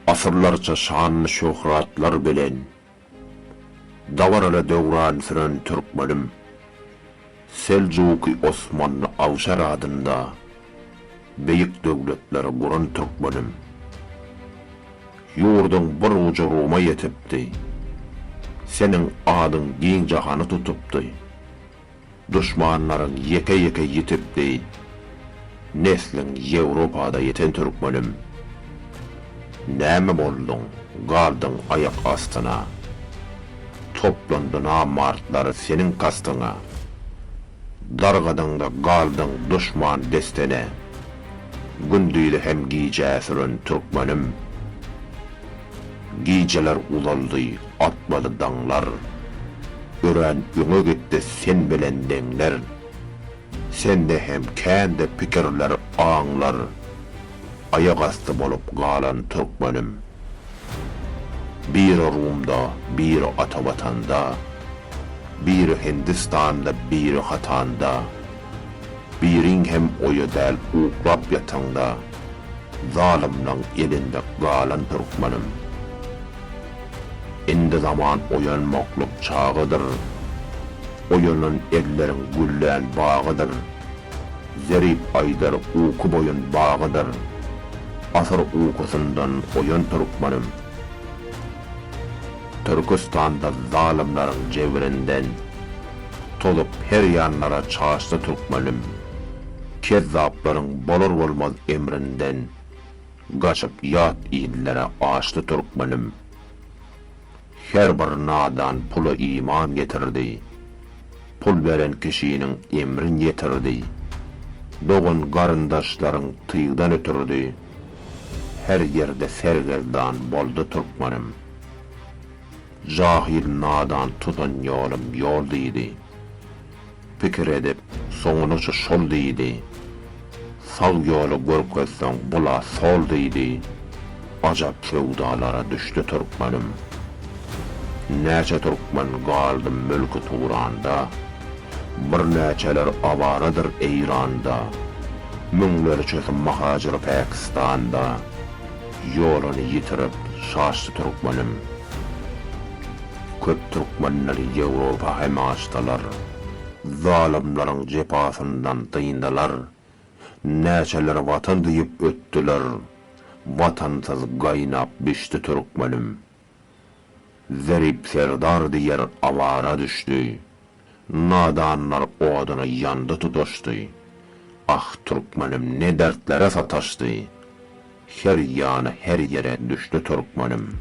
Asyrlarça şanly-şöhratlar bilen Dabaraly döwran süren türkmenim, Seljuky Osmanly Awşar adynda Beýik döwletleri guran türkmenim, Ýurduň bir ujy Ruma ýetipdi, Seniň adyň giň jahany tutupdy. Duşmanlaryň ýeke ýeke ýitip beýt Nesliň Ýewropada ýeten Türkmenim Näme bolduň galdyň aýak astyna Toplandy namartlar seniň kastyňa Dargadyňda galdyň duşman destene Gündizi hem gijä süren Türkmenim Gijeler uzaldy Atmaly daňlar. Örän öňe gitdi sen bilen deňler. Sende hem kände pikirler, aňlar. Aýak asty bolup galan türkmenim. Biri Rumda, biri ata Watanda. Biri Hindistanda, biri Hatanda. Biriň hem oýa däl uklap ýataňda. Zalymlaň elinde galan türkmenim. Indi zaman oýanmaklyk çagydyr, Oýanan elleriň güllän bagydyr. Zerip aýdar uky boýun bagydyr, Asyr ukusyndan oýan türkmenim. Türküstanda zalymlaryň jebirinden, Tozup her ýanlara çaşdy türkmenim. Kezzaplaryň bolar-bolmaz emrinden. Gaçyp ýat inlere açdy türkmenim. Her bir nadan pula iman getirdi. Pul beren kişiniň emrin ýetirdi. Dogan garyndaşlaryň tygdan ötürdi. Her ýerde sergezdan boldy türkmenim. Jahyl nadan tutan ýolum ýol diýdi. Pikir edip, soňunaça şol diýdi. Sag ýoly görkezseň bul-a sol diýdi. Ajap söwdalara düşdi türkmenim. Näçe türkmen galdy mülki Turanda. Birnäçeler awaradyr Eýranda. Müňlerçesi mahacyr Päkistanda. Ýoluny ýitirip, şaşdy türkmenim. Köp türkmenler Ýewropa hem gaçdylar. Zalymlaryň jepasyndan dyndylar. Näçeler Watan diýip ötdüler. Watansyz gaýnap bişdi türkmenim. Zerip Serdar diýer awara düşdi. Nadanlar oduny ýandy tutaşdy. Ah, türkmenim ne dertlere sataşdy. Her ýana, her ýere düşdi türkmenim.